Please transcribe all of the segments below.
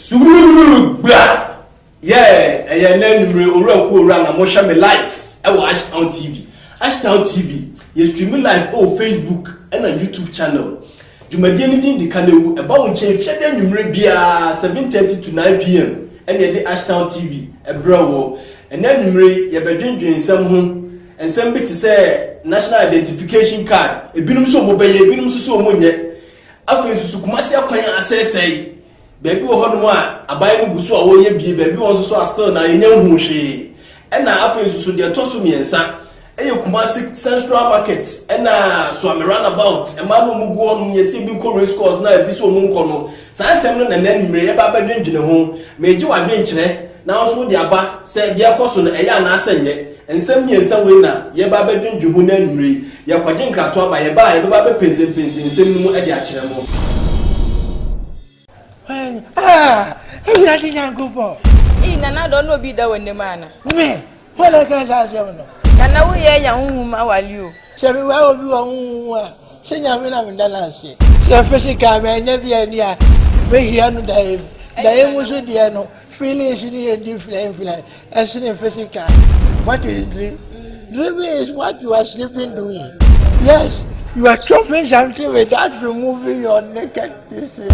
Sugurugurugu gba yeah ɛyɛ ɛnɛ anwummere owura ku owura na mohwɛ me live ɛwɔ Ashtown TV Ashtown TV yɛ stream live ɛwɔ Facebook ɛna YouTube channel dwumadie no din de Kanewu ɛba wo nkyɛn fiade anwummere biara 7:30 to 9 pm ɛna yɛde Ashtown TV ɛbrɛ wɔ ɛnɛ anwummere yɛbɛdwendwen nsɛm ho Nsɛm bi te sɛ National Identification Card, ebinom nso wɔbɛyɛ, ebinom nso sɛ wɔnyɛ. Afei nso so Kumasi akwan asɛesɛe. Baabi wɔ hɔnom a aban no gu so a wɔreyɛ bie, baabi wɔ hɔ nso so a still na yɛnya nhuu hwee. Ɛna afei nso so deɛ ɛtɔ so mmiɛnsa yɛ Kumasi Central Market ɛna Suame Runabout. Mmaa no a wɔgu hɔnom no yɛse ebi nkɔ Race Course na ebi nso a wɔnkɔ no. Saa nsɛm no na nnɛ anwummere yɛbɛ abɛdwendwene ho. Meregye w'adwenkyerɛ na wo nso wode aba sɛ deɛ ɛrekɔ so no, ɛyɛ anaasɛ ɛnyɛ. Nsɛm mmiɛnsa wei na yɛbɛ abɛdwendwene ho nnɛ anwummere yi. Yɛrekɔgye nkratoɔ aba. Yɛba a, yɛbɛba abɛpensenpensen nsɛm no mu de akyerɛ mo. Hwan? Ah! Awurade Nyankopɔn! Ei, Nana Addo, na obi da w'anim ana? Me? Hɔ na ɛka saa asɛm no. Na na woyɛ anya honhom awale o. Sɛ meware obi wɔ honhom mu a, sɛ Nyame na meda no ase. Sɛ physical manya bi ani a, mɛhia no daeɛ mu. Daeɛ mu nso deɛ no, feelings no yɛ different different ɛsene physical. What is dream? Dream is what you are sleeping doing. Yes, you are chopping something without removing your naked district.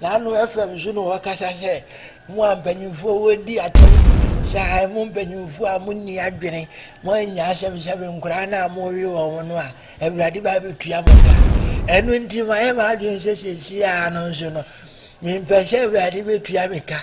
Naano FM nso na wɔkasa sɛ, Mo a mpanyimfoɔ wɔredi atɛm sɛ han mu mpanyimfoɔ a monni adwene, moannya asɛm sɛ me nkoraa no a morewe wɔn no a, Awurade ba bɛtua mo ka. Ɛno nti mayɛ m'adwene sɛ seesei ara no nso no, mempɛ sɛ Awurade bɛtua me ka.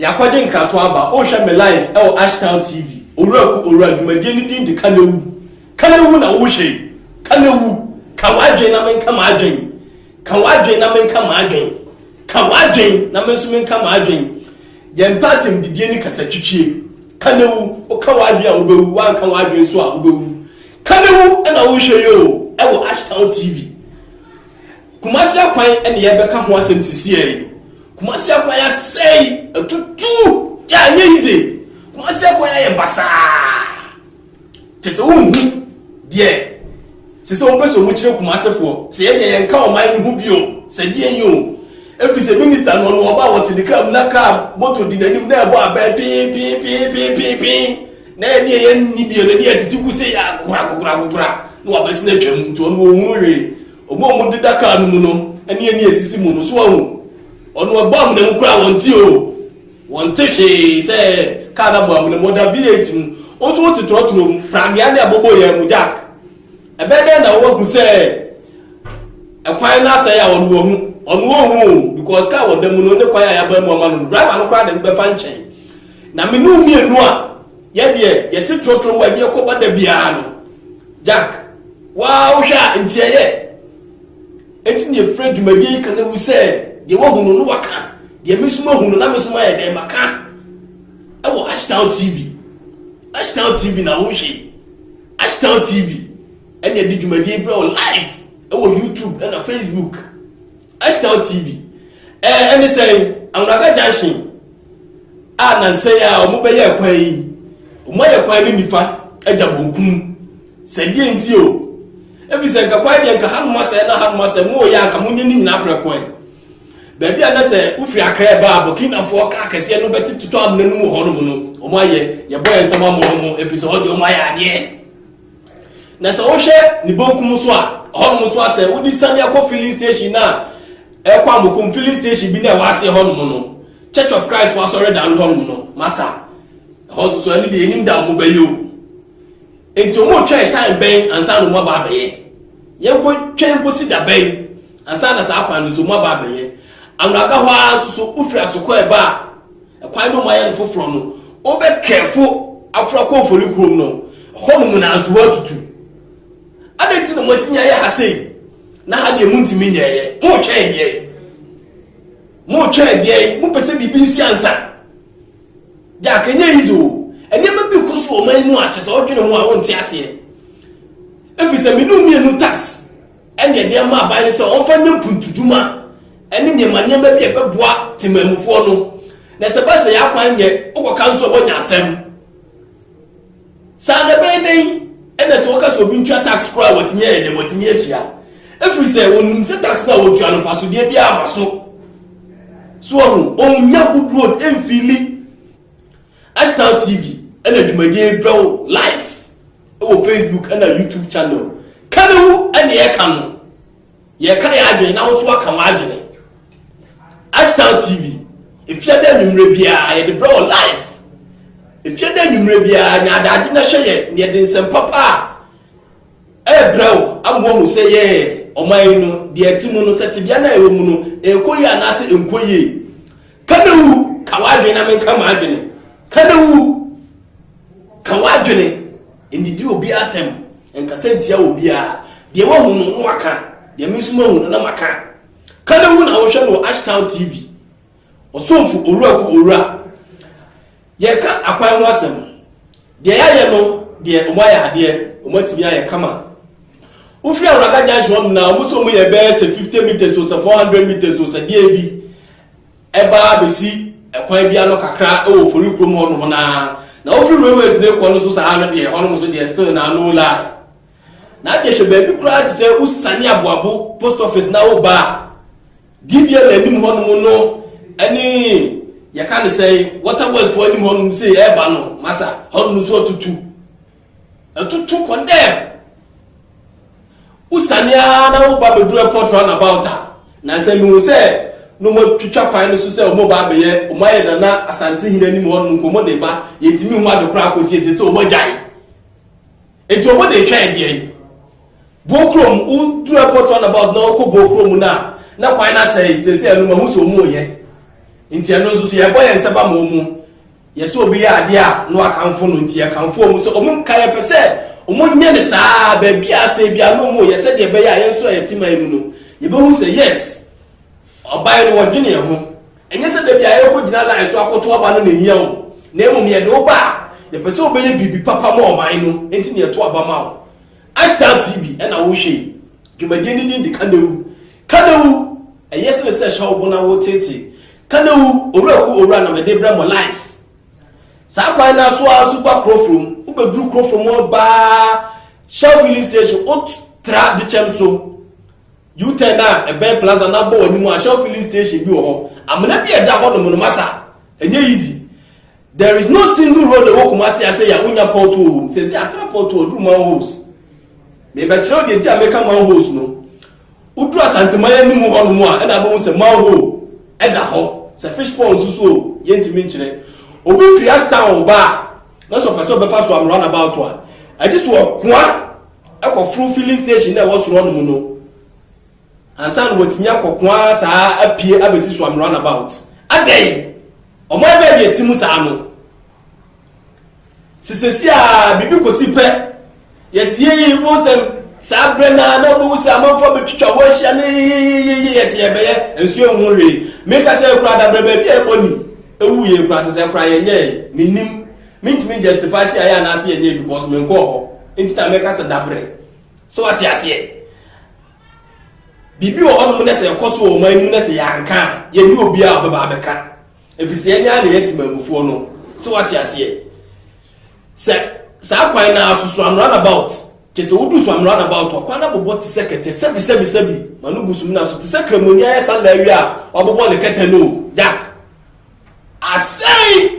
Yɛakɔgye nkratoɔ aba. Wohwɛ me live ɛwɔ Ashtown TV. Owura ku owura dwumadie no din de Ka Na Wu. Ka Na Wu na wohwɛ yi. Ka Na Wu. Ka w'adwen na menka m'adwen. Ka w'adwen na menka m'adwen. Ka w'adwen na me nso menka m'adwen. Yɛmpɛ atɛmdidie ne kasatwitwie. Ka Na Wu. Woka w'adwen a wobɛwu, woanka w'adwen nso a wobɛwu. Ka Na Wu na wohwɛ yi o ɛwɔ Ashtown TV. Kumasi akwan na yɛrebɛka ho asɛm sisiɛ yi. Kumasi akwan asɛe, atutu, yeah, ɛnyɛ easy. Kumasi akwan ayɛ basaa. Kyɛ sɛ wonhu deɛ sɛ sɛ wɔpɛ sɛ wɔkyerɛ Kumasefoɔ sɛ yɛdeɛ yɛnka ɔman no ho bio sɛ deɛ yi o. Ɛfiri sɛ minista no ɔno ɔba wɔte ne kaa mu na kaa moto di n'anim na ɛbɔ abɛn pee pee pee pee pee pee. Na yɛn deɛ yɛn nni bio, n'ani atiti gu sɛ yɛ akokorakokorakokora, na w'abasi no atwam, nti ɔno ɔnhunu hwee. Wɔn a wɔn deda kaa no mu no, ɛne ani asisi mu no, so wahu? Ɔno ɛbɔ amena mu koraa a, wɔn nte oo, wɔn nte hwee sɛ kaa no abɔ amena mu, ɔda V8 mu, wo nso wo te trɔtrɔ mu, pragea ne abobɔ yɛn mu, Jack, ɛbɛyɛ dɛn na woahu sɛ ɛkwan no asɛe a ɔno wahu? Ɔno ɔnhu oo, because kaa a ɔda mu no ne kwan a yɛabaa mu ama no no, driver no koraa de no bɛfa nkyɛn. Na me ne wo mmienu a yɛ deɛ yɛte trɔtrɔ mu a ɛdeɛ kɔba da biara no, Jack, waa wohwɛ a nti ɛyɛ? Enti na yɛfrɛ dwumadie yi ka na wu sɛ deɛ wahu no no waka, deɛ me nso mahu no na me nso mayɛ dɛn maka ɛwɔ Ashtown TV. Ashtown TV na wohwɛ yi. Ashtown TV ɛna ɛde dwumadie yi brɛ wo live ɛwɔ YouTube ɛna Facebook. Ashnow TV, Ɛɛ ɛne sɛn? Anwraka junction a nansa yi a ɔmo bɛyɛɛ kwan yi, ɔmo ayɛ kwan no nifa agya bonkum. Sɛ deɛ nti o, efisɛ nka kwan deɛ nka hanom asɛe na hanom asɛe, mo yɛ a nka mo nyɛ ne nyinaa prɛko ɛ. Baabi a na sɛ wofiri Accra ba a Burkinafoɔ kaa kɛseɛ no bɛte totɔ amena no mu hɔnom no, ɔmo ayɛ, yɛbɔ yɛn nsam ama ɔmo, efisɛ hɔ deɛ ɔmo ayɛ adeɛ. Na sɛ wohwɛ ne bonkum so a, hɔnom nso a sɛ wode siane akɔ filling station no a ɛkɔ Amokom filling station bi no a ɛwɔ aseɛ hɔnom no, Church of Christ fo asɔredan no hɔnom no, masa ɛhɔ nso so ɛno deɛ yɛnim da a wɔbɛyɛ o. Enti wɔretwɛn time bɛn ansa na wɔaba abɛyɛ? Yɛnkɔtwɛn nkɔsi da bɛn ansa na saa kwan no nso wɔaba abɛyɛ? Anwaka hɔ ara nso so wofiri Asoko a ɛba a ɛkwan no mu ayɛ no foforɔ no wobɛkɛɛfo afra kɔ mfoni kurom no hɔ no mu na nso woatutu adɛn nti na moatumi ayɛ ha sei na ha deɛ montumi nyɛɛyɛ moretwɛn adeɛ moretwɛn adeɛ mopɛ sɛ biribi nsi ansa de akɛnyɛ yi so nneɛma bi kɔ so ɔman mu a kyɛ sɛ wodwene ho a wonte aseɛ ɛfiri sɛ mene mmienu tax ɛne ɛdeɛ ma aban no sɛ wɔmfa nyɛ mpuntudwuma ne nneɛma nneɛma bi a ɛbɛboa temammufoɔ no, na sɛ ɛba sɛ yɛn akwan nyɛ, wokɔka nso a woanya asɛm. Saa na ɛbɛyɛ dɛn na sɛ woka sɛ obi ntua tax koraa a watumi ayɛ dɛn, watumi atua, ɛfiri sɛ wɔnim sɛ tax no a wɔtua no mfasodeɛ biara ma so. So ahu, ɔnnya good road mfili. Ashtown TV na dwumadie yi brɛ wo live. wɔ Facebook na YouTube channel. Ka ne ho ne yɛ ka no. Yɛ ka yɛ adwene na woso aka wɔn adwene. Ashtown TV, efiada anwummerɛ biara yɛde brɛ wɔ live. Efiada anwummerɛ biara nya adagye na hwɛ yɛ na yɛde nsɛmpa pa a ɛrebrɛ wo amoa hu sɛ yɛ ɔman yi no deɛ ɛte mu no sɛ tebea no a ɛwɔ mu no ɛrekɔ yie anaasɛ ɛnkɔ yie. Ka ne wu ka w'adwene na menka m'adwene. Ka ne wu. Ka w'adwene. Nnidi obi atɛm. Nkasa ntia obiara. Deɛ woahu no, na woaka. Deɛ me nso mahu no, na maka. Kanewu na wohwɛ no wɔ Ashtown TV. Ɔsomfo Owura ku Owura. Yɛreka akwan ho asɛm. Deɛ yɛayɛ no deɛ, wɔayɛ adeɛ. Wɔatumi ayɛ kama. Wofiri Awuraka Junction hɔ no na wɔn sɛ wɔyɛ bɛyɛ sɛ 50 metres o, sɛ 400 metres o, sɛ deɛn bi. Ɛba ara bɛsi ɛkwan bi ano kakra wɔ Ofori kurom hɔnom no ara, na wofiri Railways no rekɔ no nso saa ara no deɛ, hɔnom nso deɛ still na no line. Na deɛ hwɛ baabi koraa te sɛ wosiane Aboabo post office na woba a, DBL anim hɔnom no ne yɛka no sɛn, Water Works foɔ anim hɔnom sei ɛreba no, masa, hɔnom nso atutu. Ɛtoto kɔ dɛm. Wosiane ara na woba bɛduru airport roundabout a, nansa mehu sɛ na wɔatwitwa kwan no so sɛ wɔreba abɛyɛ, wɔayɛ Nana Asantehene anim hɔ nom nkɔmmɔ de reba, yɛntumi nhu ade koraa kɔsi ɛsɛ sɛ wɔagyae. Enti wɔde retwɛn ɛdeɛn? Bookrom, woduru airport roundabout na wokɔ Bookrom no a, na kwan no asɛe, seesei ɛno mahu sɛ wɔreyɛ. Enti ɛno nso so yɛrebɔ yɛn nsa ba ma wɔn. Yɛsɛ obi yɛ adeɛ a na wakamfo no nti yɛkamfo wɔn sɛ wɔn nka yɛpɛ sɛ wɔn nyɛ no saa ara baabi a asɛe biara na wɔn reyɛ sɛdeɛ ɛbɛyɛ a yɛn nso a yɛte man mu no yɛbɛhu sɛ yes ɔban no wɔdwene yɛn ho ɛnyɛ sɛ dabi a yɛrekɔgyina line so akɔto aba no na ɛhia wo na mmom yɛde wo ba a yɛpɛ sɛ wobɛyɛ biribi papa ma ɔman no nti na yɛto aba ma wo Ashtown TV ɛna wohwɛ yi dwumadie no din de Kanewu Kanewu, ɛyɛ sene sɛ hyɛ wo bo na wo teetee. Kanewu, owura ku owura na mede brɛ mo life. Saa kwan naa so ara nso ba Kurofrom, wo bɛduru Kurofrom hɔ baa Shell filling station wo tra Dekyɛm so U turn a ɛbɛn Plaza na bɔ w'anim a Shell filling station bi wɔ hɔ. Amena bi a ɛda hɔ nom no masa, ɛnyɛ easy. There is no single road ɛwɔ Kumasi ha sɛyi a wo nya pot hole wɔ mu. Sɛsɛyi atra pot hole duru manholes. Me bɛkyerɛ wo deɛ nti a meka manholes no. Wodu Asanteman anim hɔ nom a ɛna abɛhu sɛ manhole da hɔ, sɛ fish pond nso so o, yɛntumi nkyerɛ. Obi firi Ashtown ba a, na sɛ ɔpɛ sɛ ɔbɛfa so am runabout a, agye sɛ ɔkoa kɔforo filling station no a ɛwɔ soro hɔ nom no ansa na watumi akɔkoa saa apue abɛsi so am runabout. Adɛn? Ɔman bɛn na ɛte mu saa no? Se sɛsi a biribi kosi pɛ, yɛsiee mo sɛ saa berɛ naa na mohu sɛ amanfoɔ bɛtwitwa hɔ ahyia ne yeyeyeye yɛse yɛbɛyɛ nso yɛnhu hwee. Meka sɛ kura dabrɛ baabi a ɛbɔ ni ɛwu yɛ kura sɛ sɛ kura yɛnyɛɛ mennim mentumi justify sɛ ayɛ anaase yɛnyɛɛ because menkɔɔ hɔ nti na meka sɛ dabrɛ sɛ wate aseɛ. Biribi wɔ hɔ nom na sɛ ɛkɔ so wɔ ɔman mu na sɛ yɛanka a yɛne obiara ɔbɛba abɛka Efisɛ yɛn ara na yɛn temammufoɔ no. So wate aseɛ? Sɛ saa kwan no ara so, so am runabout. Kyɛ sɛ wodu so am runabout a, kwan no abobɔ te sɛ kɛtɛ. Sɛbi, sɛbi, sɛbi. Ma no gu sumina so te sɛ Kramoni ayɛ sa lɛɛ wie a, wabobɔ ne kɛtɛ no o. Jack. Asɛe!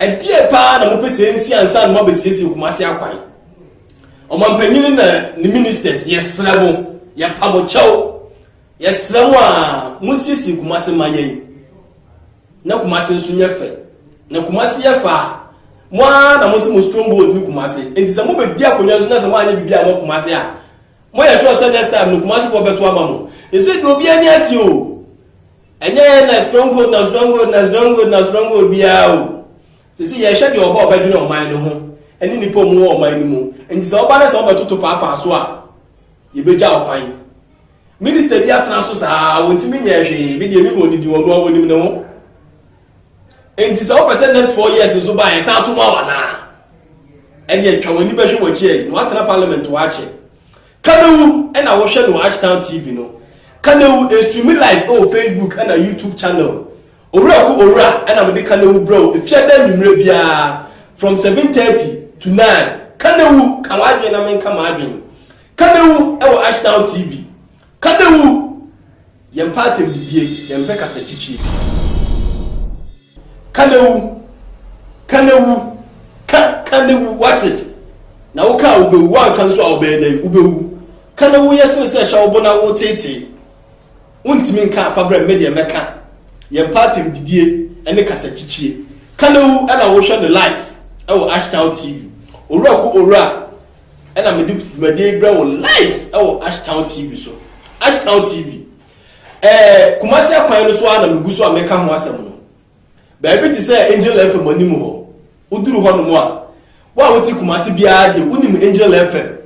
Ɛdeɛn paa na mopɛ sɛ ɛnsi ansa na moabɛsiesie Kumasi akwan? Ɔmampanyini na ne ministers, yɛsrɛ mo, yɛpa mo kyɛw, yɛsrɛ mo a monsiesie Kumasi ma yɛn na Kumasi nso nyɛ fɛ. Na Kumasi yɛ fɛ a, mo ara na mo se mo stronghold ne Kumasi. Enti sɛ mobɛdi akonnwa nso na sɛ moanyɛ biribi a ɛwɔ Kumasi a, moyɛ sure sɛ next time no Kumasifoɔ bɛto ama mo. Ɛsɛ deɛ obiara ani ateɛ o. Ɛnyɛ yɛn na stronghold na stronghold na stronghold na stronghold biara o. Sisi yɛhwɛ deɛ ɔba ɔbɛdwene ɔman no ho ɛne nnipa ɔmo wɔ ɔman no mu. Nti sɛ ɔba na sɛ ɔbɛtoto paapaa so a, yɛbɛgya ɔkwan. Minister bi atena so saa a ɔntumi nyɛɛ hwee, me deɛ menim ɔno din, ɔno ara ɔnim ne ho. Nti sɛ wopɛ sɛ next four years nso ba a yɛsan to mu awa naa, ɛdeɛ twa w'ani bɛhwɛ w'akyi ɛyi na watena parliament hɔ akyɛ. Kanewu na wo hwɛ no wɔ Ashtown TV no Kanewu ɛstreami live ɛwɔ Facebook ɛna YouTube channel Owuraku Owura ɛna mede Kanewu brɛ wo ɛfiada anwummerɛ biara from seven thirty to nine Kanewu ka w'adwene na menka m'adwene Kanewu ɛwɔ Ashtown TV Kanewu. Yɛmpɛ atɛmdidie, yɛmpɛ kasatwitwie. Ka na wu, ka na wu, ka, ka na wu, woate? Na woka a wobɛwu, woanka nso a wobɛyɛ dɛn? Wobɛwu. Ka na wu yɛ sene sɛ hyɛ wo bo na woteetee. Wontumi nka a, fa brɛ me, me deɛ mɛka. Yɛmpɛ atɛmdidie ne kasatwitwie. Ka na wu ɛna wohwɛ no live wɔ Ashtown TV. Owura ku owura. Ɛna mede dwumadie yi brɛ wo live ɛwɔ Ashtown TV so. Ashtown TV. Ɛɛ Kumasi akwan no so ara na megu so a meka ho asɛm no. Baabi te sɛ Angel FM anim hɔ. Woduru hɔ nom a, wo a wote Kumasi biara deɛ wonim Angel FM.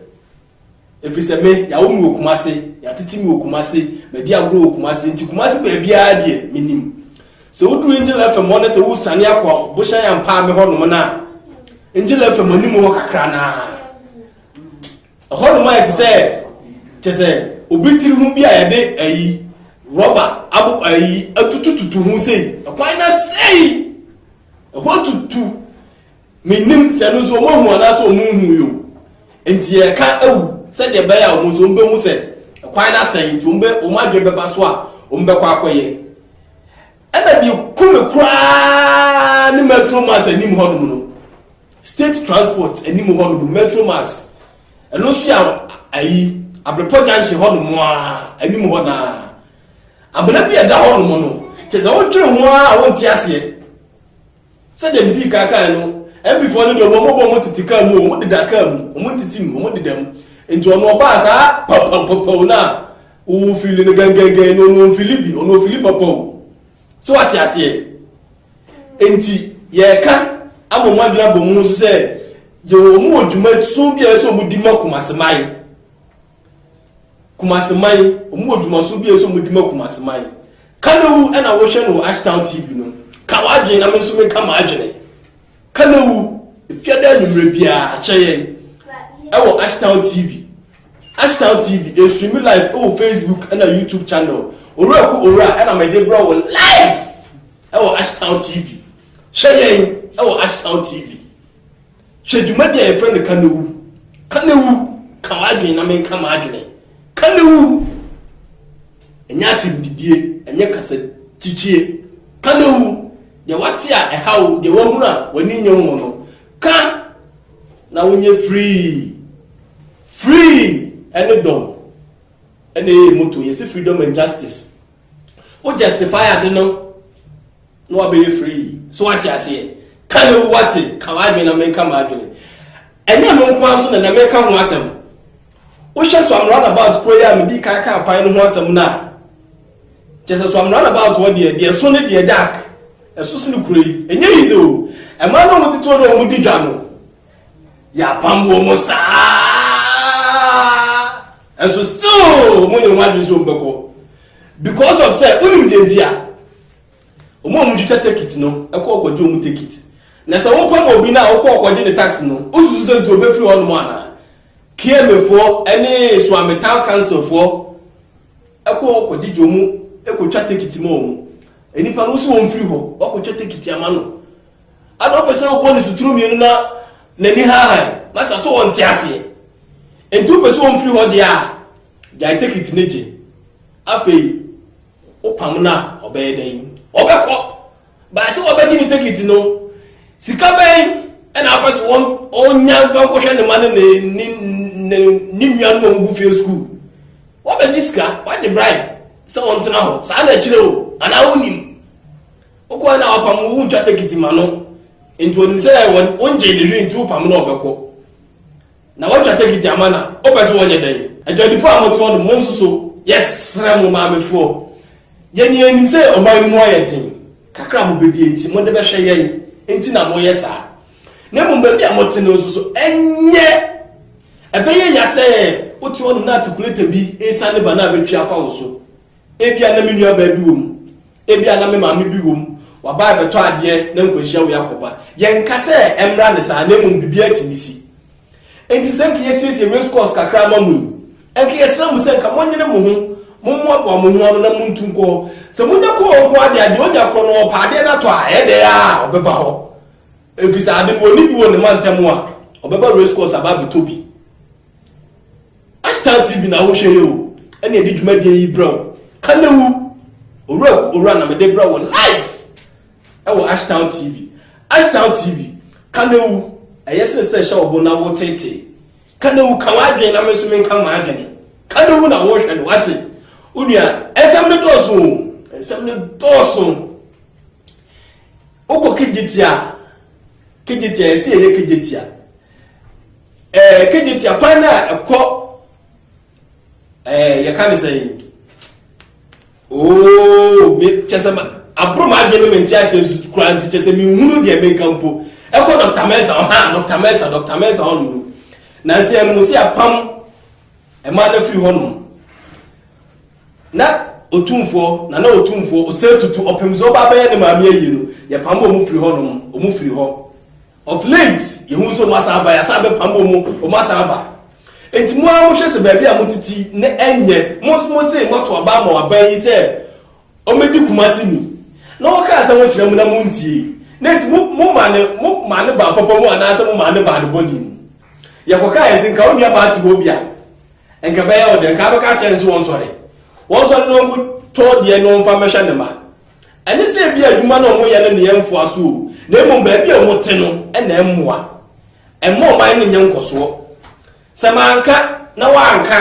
Ɛfiri sɛ me, yɛawo me wɔ Kumasi, yɛatete me wɔ Kumasi, madi agorɔ wɔ Kumasi, nti Kumasi baabiara deɛ menim. Sɛ wodu N'djila FM hɔ na sɛ wosiane akɔ Bohyɛn Ampaame hɔnom no a, N'djila FM anim hɔ kakra no ara. Ɛhɔnom ayɛ te sɛ kyɛ sɛ obi tiri ho bi a yɛde ayi rɔba abo ayi atutututu ho sei. Ɛkwan no asɛe. Ɛhɔ atutu. Mennim sɛ ɛno nso wɔahu anaasɛ wɔnhuui o, enti yɛreka awu sɛdeɛ ɛbɛyɛ a wɔn nso wɔbɛhu sɛ kwan no asɛe nti wɔn bɛ wɔn adwene bɛba so a wɔbɛkɔ akɔyɛ. Ɛna deɛ ku me koraa ne Metro Mass anim hɔnom no, state transport anim hɔnom Metro Mass, ɛno nso yɛ ayi Abrepɔ junction hɔnom a anim hɔ naa amena bi a ɛda hɔnom no kyɛ sɛ wodwene ho a wonte aseɛ. Sɛdeɛ medii kan kaeɛ no, MPfoɔ no deɛ wɔn bɔ wɔn tete kaa mu o, wɔn deda kaa mu, wɔn ntete mu, wɔn deda mu. Nti ɔno ɔbaa saa paupaupaupau no a, wo fili no gɛngɛngɛn no, ɔno ɔmfili bi, ɔno ɔfili paupau. So wate aseɛ? Nti yɛreka ama wɔn adwene abɔ mu nso sɛ, yɛwɔ wɔn wɔ dwumadison bi a ɛsɛ sɛ wɔdi ma Kumasiman. Kumasi man, wɔn wɔ dwumaso bi a ɛsɛ wɔn di ma Kumasi man. Kanewu ɛna wohwɛ no wɔ Ashtown TV no. Ka w'adwene na me nso me ka m'adwene. Kanewu, efiada anwummerɛ biara hwɛ yɛn ɛwɔ Ashtown TV. Ashtown TV, ɛswimi live ɛwɔ Facebook ɛna YouTube channel. Owura ko owura ɛna mede brɛ wɔ live ɛwɔ Ashtown TV. Hwɛ yɛn ɛwɔ Ashtown TV. Hwɛ dwumadi a yɛfrɛ no Ka Na Wu! Ka Na Wu! Ka W'adwene Na Menka M'adwene! Ka Na Wu! Ɛnyɛ atirimpidie, ɛnyɛ kasakyikyiɛ. Ka Na Wu! Deɛ wate a ɛha wo, deɛ wahunu a w'ani nnye ho no, ka na wonyɛ free. Free ne dɔm na ɛyɛ yɛn motto. Yɛse Freedom and Justice Wo justify ade no na wabɛyɛ free. So wate aseɛ. Ka na ewu wate. Ka w'adwene na menka m'adwene. Ɛnyɛ no nko ara so na na meka ho asɛm. Wohwɛ so amrada about kuro yi a medi kan ka kwan no ho asɛm no a kyɛ sɛ so amrada about wɔ deɛ deɛ so ne deɛ jack ɛso sene kuro yi. Ɛnyɛ yize o. Ɛmaa na wɔn titire na wɔn di dwa no. Yɛapam wɔn mu saa ara, nso still wɔn nyɛ wɔn adwene sɛ wɔn bɛkɔ because of sɛ wonim deɛ nti a wɔn a wɔtwitwa tekit no ɛkɔ ɔkɔgye wɔn tekit na sɛ wopam obi no a wokɔ ɔkɔgye ne tax no wosusu sɛ nti wɔbɛfiri hɔ nom anaa kiemefoɔ ne soame town councilfoɔ ɛkɔ ɔkɔgye gye wɔn ɛkɔtwa tekit ma wɔn nnipa no nso wɔn mfiri hɔ wɔkɔtwa tekit ama no Ana wopɛ sɛ wobɔ ne suturu mmienu na n'ani haahae na sa so ɔnte aseɛ? Enti wopɛ sɛ ɔmfiri hɔ deɛ a, gyae tekiti no gye. Afei wopam no a, ɔbɛyɛ dɛn? Ɔbɛkɔ. Bae sɛ wabɛgye ne tekiti no. Sika bɛn na wopɛ sɛ ɔnya mfa nkɔhwɛ ne mma ne ne, ne, ne, ne nuanom a wɔgu fie sukuu? Wabɛgye sika, wagye bribe sɛ ɔntena hɔ. Saa na ɛkyerɛ o, anaa wonnim? Wokɔɛ na wapam wo wotwa tekiti ma no nti onim sɛ wongye ne hwee nti wopam no ɔbɛkɔ na watwa tekiti ama na wopɛ so wɔnyɛ dɛn. Adwadifo a mote hɔ no monso so yɛsrɛ mo maamefoɔ yɛn yɛnim sɛ ɔman no mu ayɛ den kakra a mobɛdi nti mode bɛhwɛ yɛn nti na moyɛ saa na mmom baabi a mote no nso so ɛnyɛ ɛbɛyɛ ya sɛ wote hɔ nom na atikuleta bi resane ba na abɛtwi afa wo so Ebia na me nuabaa bi wom. Ebia na me maame bi wom. Wabae bɛtɔ adeɛ na nkwanhyia wei akɔba. Yɛnka sɛ ɛmmra ne saa na mmom biribiara tumi si. Enti sɛ nka yɛasiesie race course kakra ama mo yi, nka yɛsrɛ mo sɛ nka monyere mo ho, mommoaboa mo ho ano na montu nkɔ hɔ. Sɛ monya kɔ hɔ nko ara deɛ a, deɛ ɔnya korɔ no, ɔpɛ adeɛ no atɔ a, ɛyɛ dɛn ara a, ɔbɛba hɔ. Ɛfiri sɛ ade no, ɔnni bi wɔ ne mantam a, ɔbɛba race course aba abɛtɔ bi. Star TV na wohwɛ yi o, ɛna ɛde dwumadie yi brɛ wo. Kanewu, owura ku owura na mede brɛ wo live ɛwɔ Ashtown TV. Ashtown TV, Kanewu, ɛyɛ sene sɛ ɛhyɛ ɔbo na wotetee. Kanewu, ka w'adwene na me nso menka m'adwene. Kanewu na wohwɛ no, wate? Wo nua, nsɛm no dɔɔso o, nsɛm no dɔɔso. Wokɔ kegyetia, kegyetia, ɛsɛ yɛyɛ kegyetia. Ɛɛ kegye tia kwan no a ɛkɔ ɛɛ yɛka ne sɛn ooo me kyɛ sɛ ma aboro ma adwene me nti asɛ nsu kura nti kyɛ sɛ me nhunu deɛ me nka mpo ɛkɔ dɔkta mɛnsa ɔha dɔkta mɛnsa dɔkta mɛnsa hɔ nom na nsɛ yɛn mo si apam ɛma no firi hɔ nom na otumfoɔ na na otumfoɔ ɔsɛ tutu ɔpem sɛ ɔba abɛyɛ ne maame ayi no yɛpam ɔmo firi hɔ nom ɔmo firi hɔ Of late, yɛhu sɛ wɔasan aba, yɛasan abɛpam wɔn, wɔasan aba. Enti mo ara mohwɛ sɛ baabi a mote ti na ɛnyɛ. Mo nso mose moato aba ama wɔaban yi sɛ wɔmmɛdi Kumasi ni, na wɔkaa asɛm ho kyerɛɛ mo na montiei, na enti mo, momaa no, momaa no baa papa mu anaasɛ momaa no baa ne bɔne mu. Yɛkɔkaeɛ sɛ nka wo nuabaa te hɔ bi a, nka ɛbɛyɛ wo dɛ, nka abɛka akyerɛ no sɛ wɔnsɔre, wɔnsɔre na wɔnkɔtɔ deɛ na wɔmfa mmɛhwɛ ne mma. Ɛne sɛ ebia adwuma no a wɔyɛ no nneɛ mfoa so o, na mmom baabi a wɔte no na ɛmmoa. Ɛmma ɔman no nyɛ nkɔsoɔ. Sɛ manka na woanka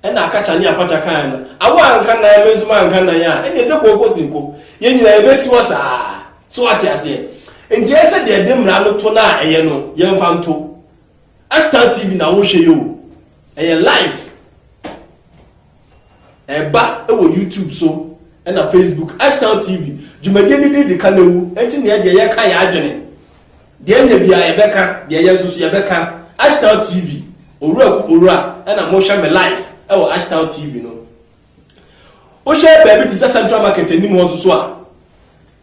a, ɛna Akacha ne Apacha kaeɛ no, a woanka nnan, me nso manka nnan a, ɛne ɛsɛ kooko si nko. Yɛn nyinaa yɛbɛsi hɔ saa. So wate aseɛ? Nti ɛyɛ sɛ deɛ ɛde mmara no to no a ɛyɛ no, yɛmfa nto. Ashtan TV na wohwɛ yi o. Ɛyɛ live ɛba wɔ YouTube so ɛna Facebook Ashtown TV dwumadie no din de ka na wu ɛnti neɛ deɛ yɛka yɛ adwene deɛ nya bia yɛbɛka deɛ yɛ nso so yɛbɛka Ashtown TV owura ku owura ɛna mohwɛ me live ɛwɔ Ashtown TV no wohwɛ baabi te sɛ Central Market anim hɔ nso so a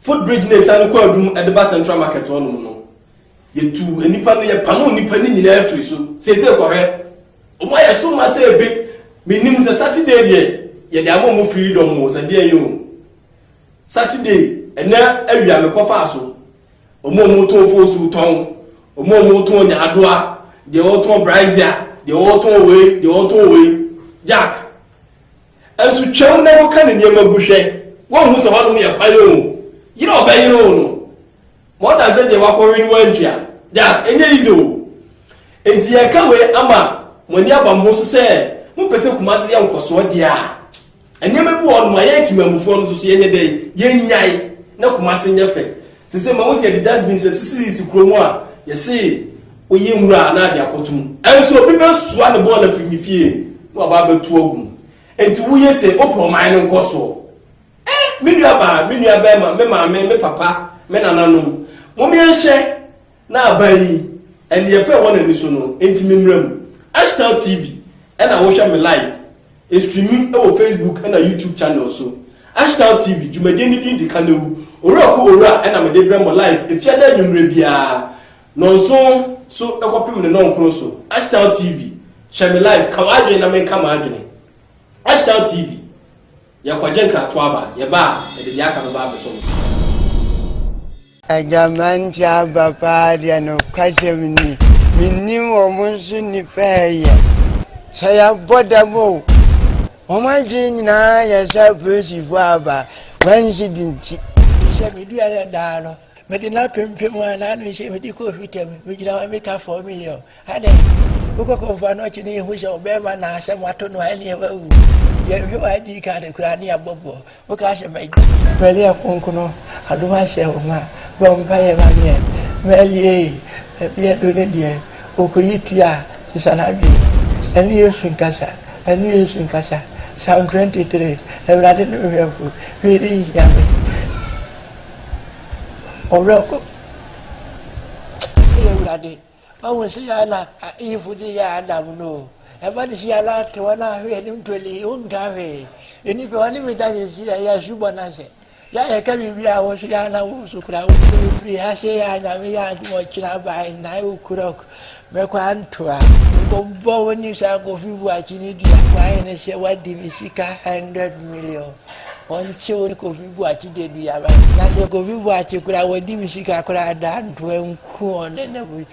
footbridge na ɛsiane kɔ adum ɛde ba Central Market hɔ nom no Yɛtuu nnipa no, yɛpamoo nnipa no nyinaa firii so. Seesei kɔhwɛ, wɔn ayɛ so ma sɛ ebe. Mennim sɛ Saturday deɛ yɛde ama wɔn freedom o, sɛ deɛn o. Saturday, ɛnnɛ awia mekɔfaa so. Wɔn a wɔtɔn foosuo tɔn, wɔn a wɔtɔn nyaadoa, deɛ ɔretɔn brazier, deɛ ɔretɔn wei, deɛ ɔretɔn wei. Jack, nso twam na woka ne nneɛma gu hwɛ, woahu sɛ hɔnom yɛ kwan o. Yere a ɔbɛyere wo no. More than sɛ deɛ wakɔwe no wantwa da, ɛnyɛ easy o. Enti yɛreka wei ama mo ani aba mo ho so sɛ mopɛ sɛ Kumasi yɛ nkɔsoɔ deɛ a, nneɛma bi wɔ hɔ nom a yɛn Temanmufoɔ no nso so yɛnyɛ dɛn, yɛnnyae na Kumasi nyɛ fɛ. Seesei mahu sɛ yɛde dustbins asisisisi kuro mu a yɛse woyɛ nwura a na ade akɔto mu. Ɛnso obi bɛsoa ne bɔɔl afiri ne fie na waba abɛto agu mu. Enti woyɛ sei wopɛ ɔman no nkɔsoɔ. E! Me nuabaa, me nuabarima, me maame, me papa, me nananom, momeɛ nhwɛ na aban yi, ɛneɛ pa ɛwɔ nani so no, enti me mmra mu. Ashtel TV na wo hwɛ me live, ɛstreami wɔ Facebook na YouTube channel so. Ashtel TV, dwumadie no din de Kanewu, Owura ko Owura na mede brɛ mo live Efiada anwummerɛ biara, nɔnson so kɔpem ne nɔnkron so. Ashtel TV, hwɛ me live, ka w'adwene na menka m'adwene. Ashtel TV. Yɛkɔgye nkratoɔ aba, yɛba a, yɛde deɛ aka no ba abɛsɔ mo ti. Agya Mantse aba paa deɛ nokwasɛm ni mennim wɔn nso nni pɛɛyɛ sɛ yɛabɔ dam o wɔn adwene nyinaa yɛ sɛ apolisifoɔ aba wɔansi di nti. Sɛ meduaeɛ daa no Mede no apempem a n'ano nhyɛ mede kɔɔ Hwita mu. Megyina hɔ meka fɔɔ me yɛ o. Adɛn? Wokɔ kɔmfoɔ no ɔkye ne yɛhu sɛ ɔbɛrima na asɛm ato no a ɛneɛ wawu. Yɛnhwɛ wɔ ID card koraa ne abɔboɔ. Woka sɛ magye. Maria Kronkron adom ahyɛ wo ma. Bɔ mpaeɛ ma meɛ. Maria ei, baabi adu no deɛ ɔkɔyi tua a sesa n'adwene. Ɛne Yesu nkasa, ɛne Yesu nkasa. Psalm 23, Awurade ne me hwɛfo, hwee renhia me. ɔwerɛho yɛ awurade ɔhu sɛ yɛ na ayifo de yɛ adam no ɛma de si ala te wɔn ahwe anim ntoli wonka hwee nnipa wɔn ne meda sisi yɛ yɛ asubɔ no ase yɛ yɛ ka biribi a wɔso yɛ ana wo so kura wo so firi ha sɛ yɛ anyame yɛ adom ɔkyena bae nnae wo kurɔk Me kwantoa, nkɔbɔ wo ne saa Kofi Boakye ne dua kwan ne sɛ wadi me sika hundred million. Wɔnkye wo ne Kofi Boakye de dua ba. Na sɛ Kofi Boakye koraa wadi me sika koraa da ntoa nku wɔn ne na mu.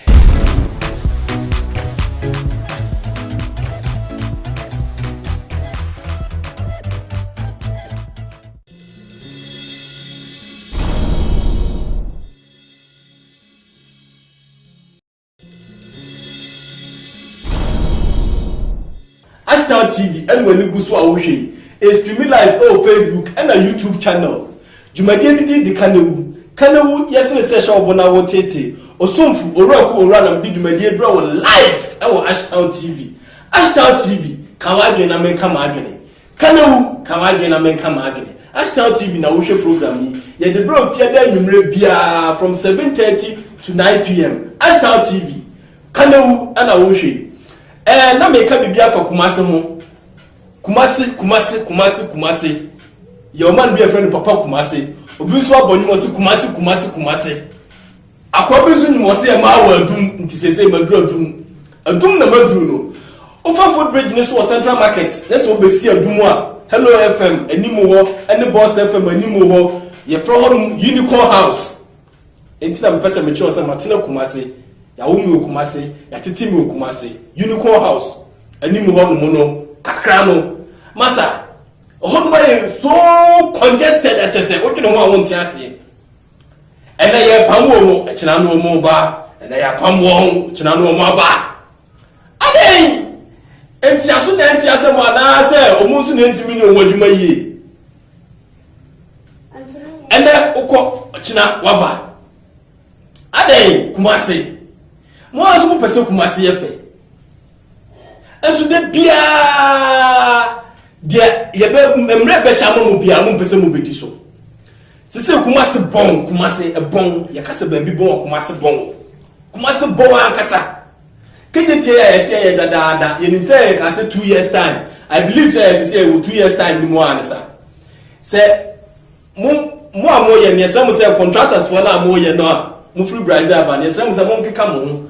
Ashtar TV ɛna w'ani gu so a wohwɛ yi. Ɛstreami live ɛwɔ Facebook ɛna YouTube channel. Dwumadie no din de Kanewu. Kanewu yɛ sene sɛ hyɛ wo bo na wo teetee. Osomfo Owura Ku Owuranam de dwumadie brɛ wo live ɛwɔ Ashtar TV. Ashtar TV, ka w'adwene na menka m'adwene. Ka na wu ka w'adwene na menka m'adwene. Ashtel TV na wohwɛ program yi. Yɛde brɛ wo fiada anwumerɛ biara from seven thirty to nine pm. Ashtel TV. Ka na wu ɛna wohwɛ yi. Ɛɛ na meka biribi afa Kumasi ho. Kumasi, Kumasi, Kumasi, Kumasi. Yɛ ɔman bi a yɛfrɛ no Papa Kumasi. Obi nso abɔ nnwom ɔse Kumasi, Kumasi, Kumasi. Akoa bi nso nim ɔse yɛ maa wɔ adum nti seesei maduru adum. Adum na maduru no. Wofa foot bridge no so wɔ central market na sɛ wobɛsi adum a hello FM anim hɔ ne boss FM anim hɔ yɛfrɛ hɔ nom unicorn house. Enti na mepɛ sɛ mekyerɛ wo sɛ matena Kumase, yɛawo me wɔ Kumase, yɛatete me wɔ Kumase. Unicorn house anim hɔ nom no kakra no masa hɔ nom ayɛ so congested akyɛsɛ wodwene ho a wonte aseɛ. Ɛnɛ yɛrepam wɔn mu, ɛkyena na wɔn reba. Ɛnɛ yɛapam wɔn, ɛkyena na wɔn aba. Adɛn nti aso na ɛnte asɛm anaasɛ wɔn nso na ɛntumi nyɛ wɔn adwuma yie? Ɛnɛ wokɔ, ɔkyena waba. Adɛn Kumase? Mo ara nso mopɛ sɛ Kumase yɛ fɛ. Nso da biara deɛ yɛbɛ mmerɛ bɛhyɛ ama mu biara mo mpɛ sɛ mo bɛdi so sɛ sɛ kumase bɔn kumase ɛbɔn yɛka sɛ baabi bɔn wɔ kumase bɔn kumase bɔn ankasa kegye tie a yɛsɛ yɛ dadaada yɛnim sɛ yɛka sɛ two years time I believe sɛ yɛsɛ sɛ yɛwɔ two years time ni mu a ne sa sɛ mo mo a mo yɛ ne yɛsɛ mo sɛ contractors foɔ no a mo yɛ no a mo firi Brazil aba ne yɛsɛ mo sɛ mo nkeka mo ho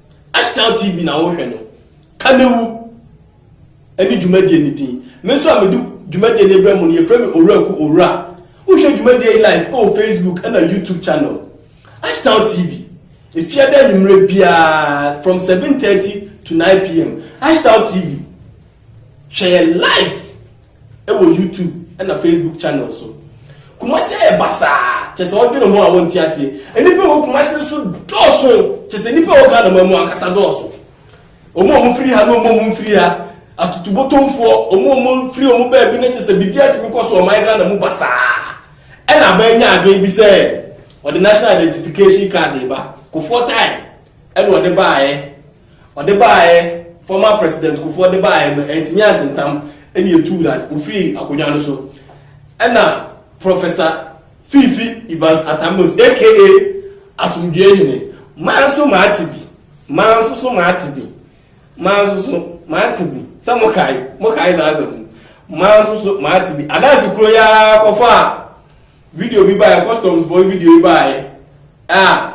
Ashtel TV na wohwɛ no, Kanewu ne dwumadie no din. Me nso a mede dwumadie no rebrɛ mo no, yɛfrɛ me Owuraku Owura. Wohwɛ dwumadie yi live wɔ Facebook ɛna YouTube channel, Ashtel TV. Efiada anwummerɛ biara from 7:30 to 9 pm, Ashtel TV, Hwɛ yɛn live wɔ YouTube ɛna Facebook channel so. Kumasi ayɛ basaa kyɛ sɛ ɔdwene ho a wɔnte aseɛ. Nnipa ɛwɔ Kumasi no so dɔɔso kyɛ sɛ nnipa ɛwɔ Ghana man mu ankasa dɔɔso. Ɔmo a ɔmo firi ha na ɔmo a ɔmo mfiri ha, atutubotomfoɔ, ɔmo a ɔmo firi ɔmo baabi na kyɛ sɛ biribiara tumi kɔ so ɔman Ghana mu basaa. Ɛna aban nya adwene bi sɛ ɔde national identification card reba. Kofoɔ tae ɛna ɔde baeɛ. Ɔde baeɛ, former President Kufuor de baeɛ no, antumi antentam ɛna ɛtuu no ade, ɔfiri akonnwa no so. Ɛna Professor Fiifi Evans Atta-Mills aka Asomdwoeɛ Hene, maa nso mate bi, maa nso so mate bi, maa nso so mate bi, sɛ mokae, mokae saa asɛm no, maa nso so mate bi. Adaase kuro yi ara kɔfaa video bi baeɛ, customs foɔ video yi baeɛ a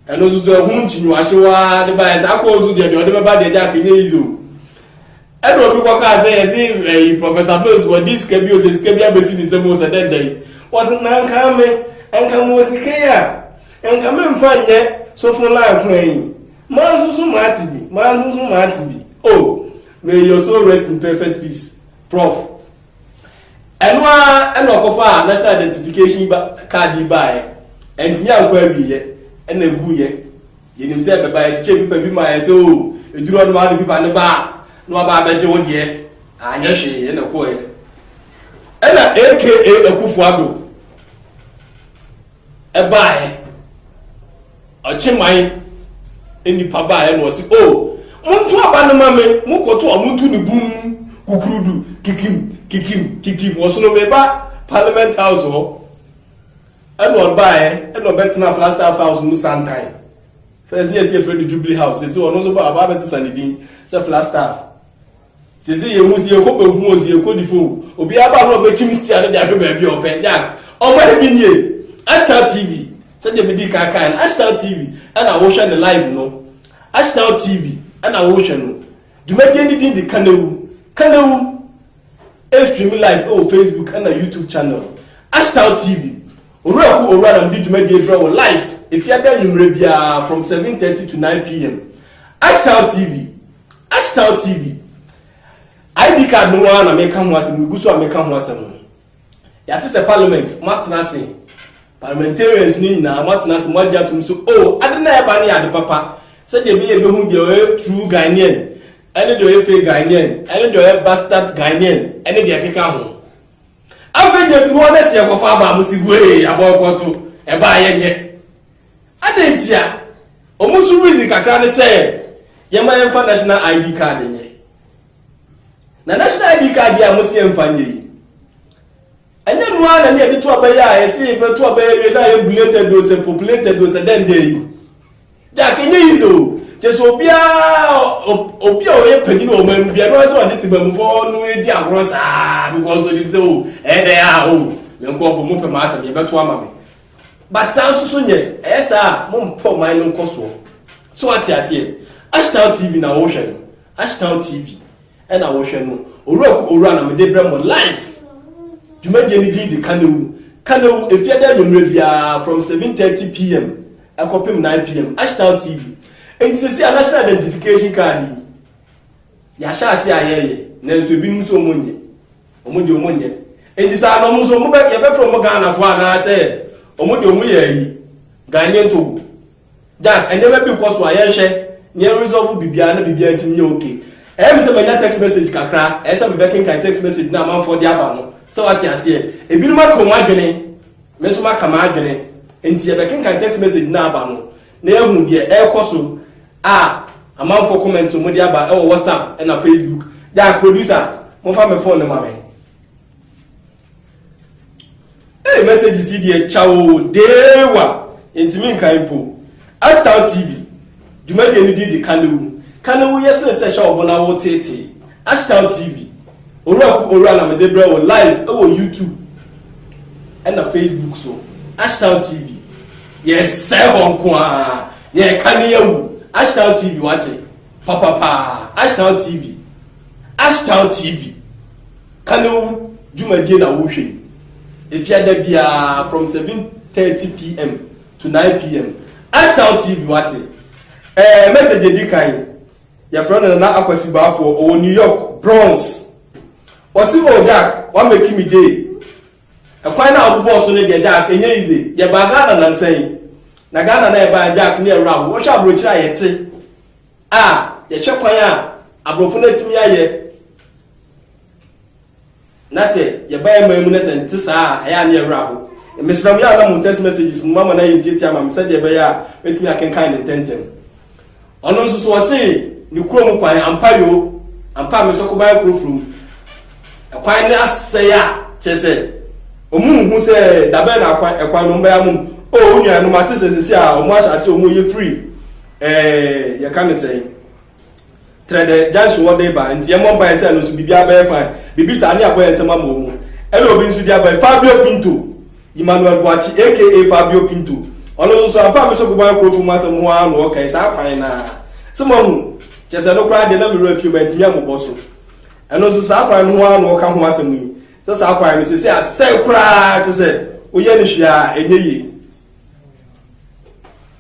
Ɛno nso so ɛho nkyinwahyew ara de baeɛ saa kɔɔ so deɛ deɛ ɔde bɛba deɛ Jack nyɛ yize o ɛna obi kɔkaa sɛ yɛse ɛyi Professor Mills wɔde sika bi o sɛ sika bi abɛsi ne nsam o sɛ dɛn dɛn wɔse na nka me nka mewɔ sika yi a nka memfa nyɛ sofo line kwan yi maa nso so maate bi maa nso so maate bi o may your soul rest in perfect peace prof Ɛno ara na ɔkɔfaa National Identification Card yi baeɛ. Antumi ankɔ awieɛ na ɛguiɛ. Yɛnim sɛ bɛba yɛkyekyɛ pipa bi maeɛ sɛ oo, ɛduru hɔ no ma wode pipa no ba a na waba abɛgye wo deɛ. Anyɛ hwee na ɛkɔeɛ. Ɛna AKA Akufo-Addo ɛbaeɛ. Ɔkye man nnipa baeɛ na ɔse oh monto aba no ma me mokɔto a monto ne bum kukurudu kikim kikim kikim ɔsono meba parliament house hɔ ɛna ɔbaeɛ ɛna ɔbɛtena plastaff house mu santan first ne yɛsi yɛfrɛ no jubilee house sɛsi ɔno nso ba ɔba abɛsesa ne din sɛ flastaff Sesei yehu dze yɛkɔ bankum o, dze yɛkɔ difo o, obiara ba a nna ɔbɛkyim stia no de ahwɛ baabi a ɔpɛ. Jack, Ɔman bi nie! Ashtar TV, Sɛdeɛ medii kan kaeɛ no, Ashtar TV na wohwɛ no live no. Ashtar TV na wohwɛ no. Dwumadie no din de Kanewu. Kanewu ɛrestream live wɔ Facebook na YouTube channel. Ashtar TV, Owura Ku Owura na mede dwumadie brɛ wo live Efiada anwummerɛ biara from 7:30 to 9 pm. Ashtar TV. Ashtal TV, ID card no ara na meka ho asɛm, megu so a meka ho asɛm. Yɛate sɛ Parliament, moatena ase, Parliamentarians no nyinaa, moatena ase, moagye atom sɛ, oh, ade no a ɛreba no yɛ ade papa, sɛdeɛ ɛbɛyɛ yɛbɛhu deɛ ɔyɛ true Ghanaian, ɛne deɛ ɔyɛ fake Ghanaian, ɛne deɛ ɔyɛ bastard Ghanaian, ɛne deɛ ɛkeka ho. Afei deɛ ɛduru August yɛkɔfa aba a, mose guee, abɔɔkɔɔto, ɛbaa yɛnyɛ. Adɛn ntia? Wɔn nso reason kakra ne sɛ yɛma yɛmfa national ID card nyɛ. Na national ID card yi a wɔsi yɛmfa nyɛ yi, ɛnyɛ no ara na ne yɛde to aba yi a yɛsi yɛbɛto aba yi awie na ayɛ belated o sɛ populated o sɛ dɛn dɛn yi. Jack, ɛnyɛ easy o. Kyerɛ sɛ obiara obi a ɔyɛ panyin wɔ ɔman mu biara no ara sɛ ɔde tebamufo no adi agorɔ saa because onim sɛ o ɛyɛ dɛn a o me nkurɔfo mopɛ m'asɛm yɛbɛto ama me. But saa nso so nyɛ. Ɛyɛ saa a, mo mpɛ ɔman no nkɔ soɔ. So wate aseɛ? Ashtown TV na wo hwɛ no. Ashtown TV ɛna wo hwɛ no. Owura ku owura na mede brɛ mo live. Dwumadie no din de Kanewu. Kanewu, ɛfiada anwummerɛ biara from 7:30 pm ɛkɔpem 9 pm. Ashtown TV. Nti sɛsei a National Identification Card yi, yɛahyɛ aseɛ a yɛreyɛ. Nanso ebinom nso wɔn nyɛ. Ɔmo deɛ ɔmo nyɛ. Enti saa na ɔmo nso ɔmo bɛ yɛbɛfrɛ ɔmo Ghanafoɔ anaa sɛ ɔmo deɛ ɔmo yɛ ayi Ghanaian Togo. Jack nneɛma bi kɔ so a yɛnhwɛ na yɛn resolve biribiara na biribiara ntumi nyɛ okay. Ɛyɛ me sɛ manya text message kakra ɛyɛ sɛ me bɛkenkan text message no a amanfoɔ de aba no sɛ wate aseɛ. Ebinom aka ɔmo adwene me nso maka m'adwene nti yɛbɛkenkan text message no a aba no. na yɛahu deɛ ɛrekɔ so a amanfoɔ comments a wɔde aba wɔ WhatsApp ɛna Facebook. Gya producer, momfa me phone no ma me. Hey, messages yi deɛ kya o, deewa, yɛntumi nkan mpo. Ashtown TV, dwumadie no din de Kanewu. Kanewu yɛ sene sɛ hyɛ ɔbo na woteetee. Ashtown TV, Owura ku owura na mede brɛ wo live wɔ YouTube ɛna Facebook so Ashtown TV yɛsɛe hɔ nko aa nea ɛka ne yawu Ashtown TV wate papapaa Ashtown TV Ashtown TV ka ne wo dwumadie na wo hwɛ yi efia da biaa from 7:30 pm to 9 pm Ashtown TV wate ɛɛ message edi kan. Yɛfrɛ no Nana Akwasibaafo, ɔwɔ New York, Bronx. Ɔse, Oh, Jack, woamake me day. Ɛkwan no a wobobɔɔ so no deɛ, Jack, ɛnyɛ easy. Yɛbaa Ghana nnansa yi, na Ghana no a yɛbaeɛ no, Jack, ne yɛn werɛ ahow. Wohwɛ aborɔkyiri a yɛte a, yɛhwɛ kwan a aborɔfo no atumi ayɛ Na sɛ yɛba yɛn man mu na sɛ nte saa a, ɛyɛ a ne yɛn werɛ ahow. Mesrɛ mo, yɛ a na mo text messages mu mama no ayɛ ntiatia ama me sɛdeɛ ɛbɛyɛ a mɛtumi akenkan no ntɛmntɛm. Ɔno nso so ɔse ne kuro mu kwan, ampa yoo, ampa a me nso koban kuro foro mu ɛkwan no asɛe a kyerɛ sɛ ɔmo nhu sɛ dabɛn na akwan ɛkwan no ɔmo bɛyɛ amom. Oh, wo nua no mate sɛ sɛsi a ɔmo ahyɛ ase ɔmo yɛ free, eh, yɛka no sɛn? Trɛ dɛ junction hɔ dee ba, nti yɛ mmɔ mpaeɛ sɛ ɛno nso biribiara bɛyɛ fine. Bibi saa ne abɔ yɛn nsam ama ɔmo. Ɛna obi nso di aba yi, Fabio Pinto, Emmanuel Boakye aka Fabio Pinto. Ɔno nso ampa me so Boban Akuofo mu asɛm ho ara na ɔɔka yi saa kwan no ara. So moahu? Kyerɛ sɛ ɛno koraa deɛ na me werɛ afie mantumi ammobɔ so. Ɛno nso saa kwan no ho ara na ɔɔka ho asɛm yi, sɛ saa kwan no seesei asɛe koraa kyerɛ sɛ woyɛ no hwee a ɛnyɛ yie.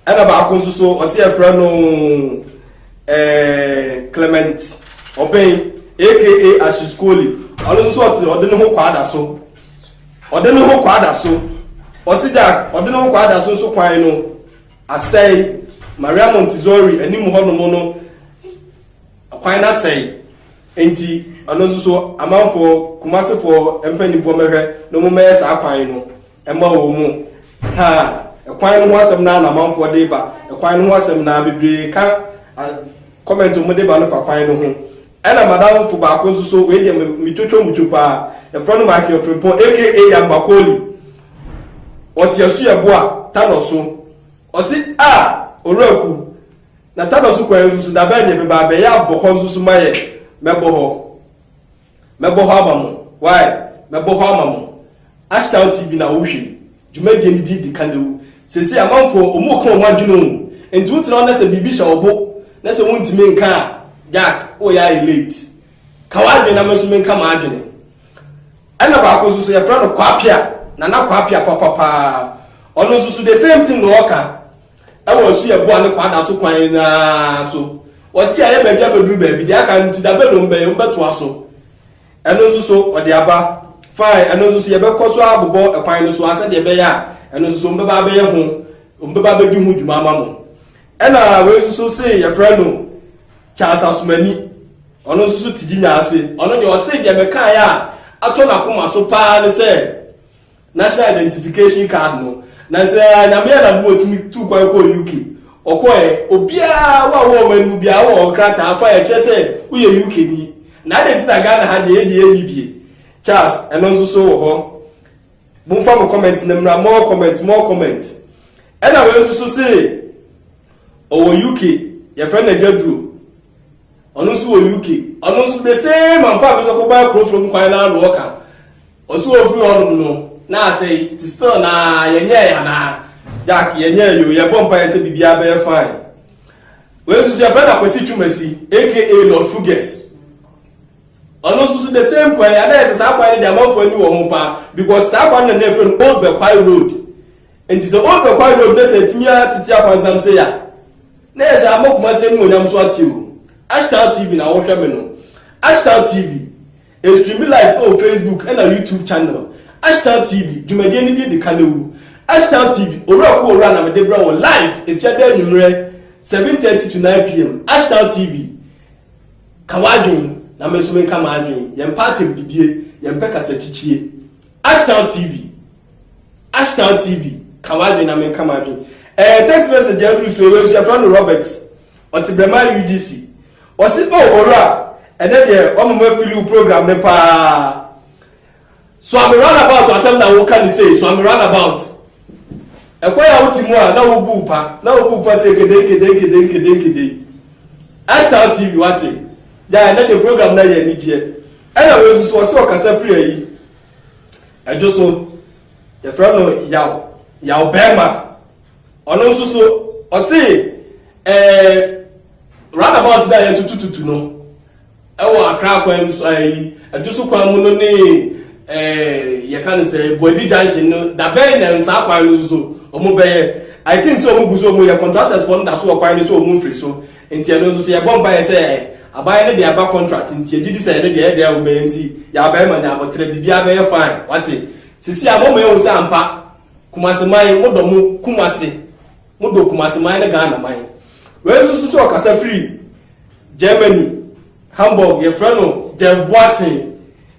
ɛna baako nso so ɔsi ɛfrɛ no ɛɛ clement ɔbɛn aka ashiskoli ɔno nso ɔte ɔde ne ho kɔ ada so ɔde ne ho kɔ ada so ɔsi gya ɔde ne ho kɔ ada so nso kwan no asɛe maria montessori anim hɔnom no kwan no asɛe nti ɔno nso so amanfoɔ kumasefoɔ mpanimfoɔ mɛhwɛ na wɔn mɛyɛ saa kwan no. Ɛma wɔn mu ha ɛkwan no ho asɛm na na amanfoɔ de ba ɛkwan no ho asɛm na bebree ka kɔmɛnti wɔn de ba no fa kwan no ho ɛna madamfo baako nso so wei deɛ metwotwo mutwo paa yɛfrɛ no Michael Frimpong aka Yambakoli ɔte asuabu a tanɔ so ɔse a owuraku na tanɔ so kwan nso so dabɛn ne bɛba bɛyɛ abɔ hɔ nso so ma yɛ mɛbɔ hɔ Mɛbɔ hɔ ama mo, wai, mɛbɔ hɔ ama mo. Ashtown TV na wohwɛ yi, dwumadie no din de Kanewu. Seesei amanfoɔ wɔn reka wɔn adwene o, enti wotena hɔ na sɛ biribi hyɛ wo bo na sɛ wontumi nka a, Jack, woyɛ ayɛ late. Ka w'adwene na me nso menka m'adwene. Ɛna baako nso so yɛfrɛ no Kwapea, Nana Kwapea papa paa. Ɔno nso so the same thing na ɔka. Ɛwɔ nso yɛ boa ne kwaada so kwan naa so. Ɔse yɛayɛ baabi abɛduru baabi, deɛ aka no nti da bɛn na ɔmbɛyɛ, ɔmbɛtoa so. Ɛno nso so ɔde aba, fine, ɛno nso so yɛbɛkɔ so ara abobɔ ɛkwan no so ara sɛdeɛ ɛbɛyɛ a ɛno nso so ɔmbɛba abɛyɛ ho, ɔmbɛba abɛdi ho dwuma ama mo. Ɛna wei nso so se yɛfrɛ no Charles Asumani, ɔno nso so te Dinya ase, ɔno deɛ ɔse deɛ mekaeɛ a atɔ n'akoma so paa ne sɛ National identification card no na sɛ Nyame Anadom otumi tuu kwan kɔɔ UK ɔkɔɔɛ obiara wo a wowɔ ɔman no mu biara wowɔ ɔkrataa afa a ɛkyerɛ sɛ woyɛ UK ni na adɛn nti na Ghana ha deɛ yɛdeɛ yɛnni bie Charles ɛno nso so wɔ hɔ momfa mo comment no mmra more comment more comment ɛna wei nso so se ɔwɔ UK yɛfrɛ no agya duro ɔno nso wɔ UK ɔno nso the same ampa bi nso kɔbaa kurofuro mu kwan no ano ɔka Ɔse ɔfiri hɔ nom no na asɛe nti still no aa yɛnyɛɛ anaa Jack yɛnyɛɛ yoo yɛbɔ mpaeɛ sɛ biribiara bɛyɛ fine Wei nso so yɛfrɛ no Akwasi Twumasi aka Lord Fuges ɔno nso so the same kwan ana ɛsɛ saa kwan no de amanfoɔ ani wɔ ho paa because saa kwan no na ɛfrɛ no Old Bɛkwae Road nti sɛ Old Bɛkwae Road na sɛ atumi atete akwansam sɛ ya na ɛsɛ ama Kumasi animonyam so ate o Ashtown TV na wohwɛ me no Ashtown TV Ɛstreami live wɔ Facebook ɛna YouTube channel Ashtel TV dwumadie no din de Kanewu Ashtel TV Owura ko Owura na mede brɛ wo live Efiada anwummerɛ 7:30 to 9 pm Ashtel TV Ka w'adwen na me nso menka m'adwen Yɛmpɛ atɛmdidie Yɛmpɛ kasatwitwie Ashtel TV Ashtel TV Ka w'adwen na menka m'adwen Ɛɛ text message a aduru so yi wei nso yɛfrɛ no Robert Ɔtebɛma UGC. Ɔse oh Owura, ɛnɛ deɛ wama mafili wo program no paa. Suame runabout asɛm na woka no sei, suame runabout. Ɛkwan a wote mu a na wobu wo pa, na wobu wo pa sei kedei kedei kedei kedei kedei. Ashtar TV wate, gyae ɛnɛ deɛ program no ayɛ anigyeɛ. Ɛna wei nso so ɔse ɔkasa firi ayi, ɛdwo so, yɛfrɛ no yaw, yaw bɛɛma. Ɔno nso so, ɔse ɛɛ roundabout bi a yɛtutututu no ɛwɔ Accra akwan mu so ɛyi Adwoso kwan mu no ne ɛɛ yɛka no sɛ Boadi junction no dabɛn na saa kwan no nso so wɔn bɛyɛ I think sɛ wɔn gu so wɔn yɛ contractors fo no da so wɔ kwan no so wɔn mfiri so nti ɛno nso so yɛbɔ mpaeɛ sɛ aban no de aba contract nti yɛgye di sɛ ɛno deɛ ɛdɛ wɔn bɛyɛ nti yɛabɛyɛ ma ne abɔterɛ biribiara bɛyɛ fine wate sisi a wɔn yɛ wɔn sɛ ampa Kumasi man, mo dɔ mo Kumasi, mo dɔ Kumasi man ne Ghana man. Wei nso so sɛ ɔkasa firi Germany, Hamburg, yɛfrɛ no Jeff Boateng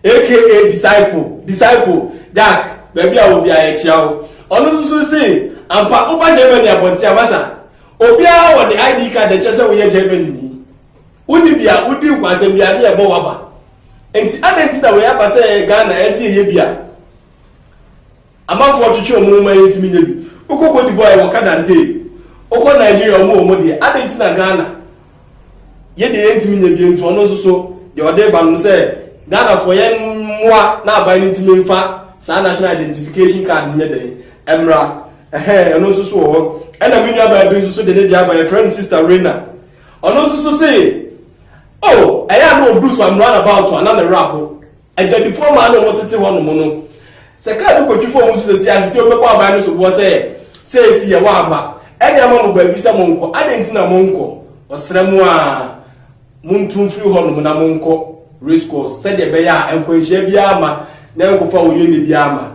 aka Disciple, Disciple, Jack, baabi a wɔ biara yɛkyea wo. Ɔno nso so se ampa woba Germany abɔnten a masa obiara wɔ de ID card a ɛkyerɛ sɛ woyɛ Germany ni. Wonni bi a wodi nkwansɛm biara ne yɛbɔ wo aba. Nti adɛn nti na wei aba sɛ Ghana ɛse yɛyɛ bi a? Amanfoɔ twetwe wɔn ho ma yɛntumi nyɛ bi. Wokɔ Cote d'Ivoire yɛwɔ Kadantee, wokɔ Nigeria wɔn wɔ wɔn deɛ. Adɛn nti na Ghana yɛ deɛ yɛntumi nyɛ bi nti ɔno nso so deɛ ɔde reba no sɛ Ghanafoɔ yɛmmoa na aban no ntumi mfa saa national identification card no nyɛ dɛn mmra ɛhɛn ɛno nso so wɔ hɔ. Ɛna me nuabaa bi nso so de ne deɛ aba yɛfrɛ no Sister Reina ɔno nso so se oh ɛyɛ a na ɔduru so I'm run about a na ne werɛ aho. Adwadifoɔ mmaa na wɔtete hɔnom no, sɛ kaa bi kɔtwi fam nso sɛ siase sɛ wɔbɛbɔ aban no soboɔ sɛ, Seesi yɛwɔ aba de ama mo baabi sɛ monkɔ, adɛn nti na monkɔ? Wɔsrɛ mo a, montu mfiri hɔnom na monkɔ Racecourse sɛdeɛ ɛbɛyɛ a nkwanhyia biara mma na ɛnkɔfa ɔyɔni biara mma.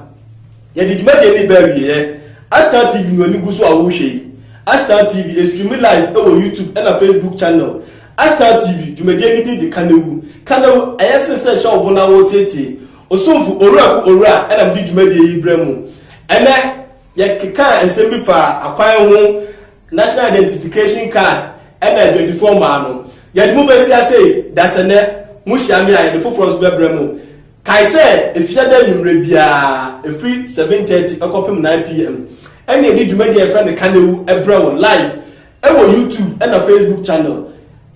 Yɛde dwumadie no reba awieɛ. Ashtan TV no ani gu so a worehwɛ yi. Ashtan TV, ɛstreame live wɔ YouTube ɛna Facebook channel. Ashtan TV, dwumadie no din de Kanewu. Kanewu, ɛyɛ sene sɛ hyɛ wo bo na woreteetee. Osomfo Owura Ku Owura ɛna mede dwumadie yi brɛ mo. Ɛnɛ, yɛkekaa nsɛm bi faa akwan ho, National Identification Card ɛna adwadifoɔ mmaa no. Yɛde mo bɛsi ase dasɛ nnɛ, mohyia me a yɛde foforɔ nso bɛbrɛ mo. Kae sɛ Afiada anwummere biara, ɛfiri 7:30 kɔpem 9:00 pm, ɛne ɛdi dwumadi a yɛfrɛ no Ka Na Wu brɛ wo live wɔ YouTube ɛna Facebook channel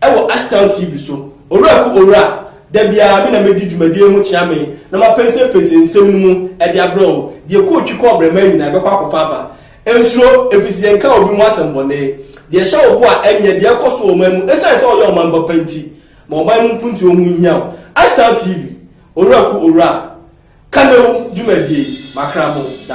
ɛwɔ Ashtown TV so. Owura ku Owura, da biara me na mɛdi dwumadie ho kyeame na mapɛnsɛmpɛnsɛ nsɛm no mu de abrɛ wo. Deɛ kɔɔ twi kɔɔ brɛmaa nyinaa ɛbɛkɔ akɔfa aba. Ɛnsuro, ɛfiri sɛ yɛnka obi ho asɛm bɔne. Deɛ ɛhyɛ wo bo a ɛnyɛ, deɛ ɛkɔ so wɔ ɔman mu, ɛsiane sɛ ɔyɛ ɔman papa nti. Ma ɔman mu mpuntuo ho nhia wo. Ashtar TV, Owura ku Owura a, Kanewu dwumadie, Makra mo da.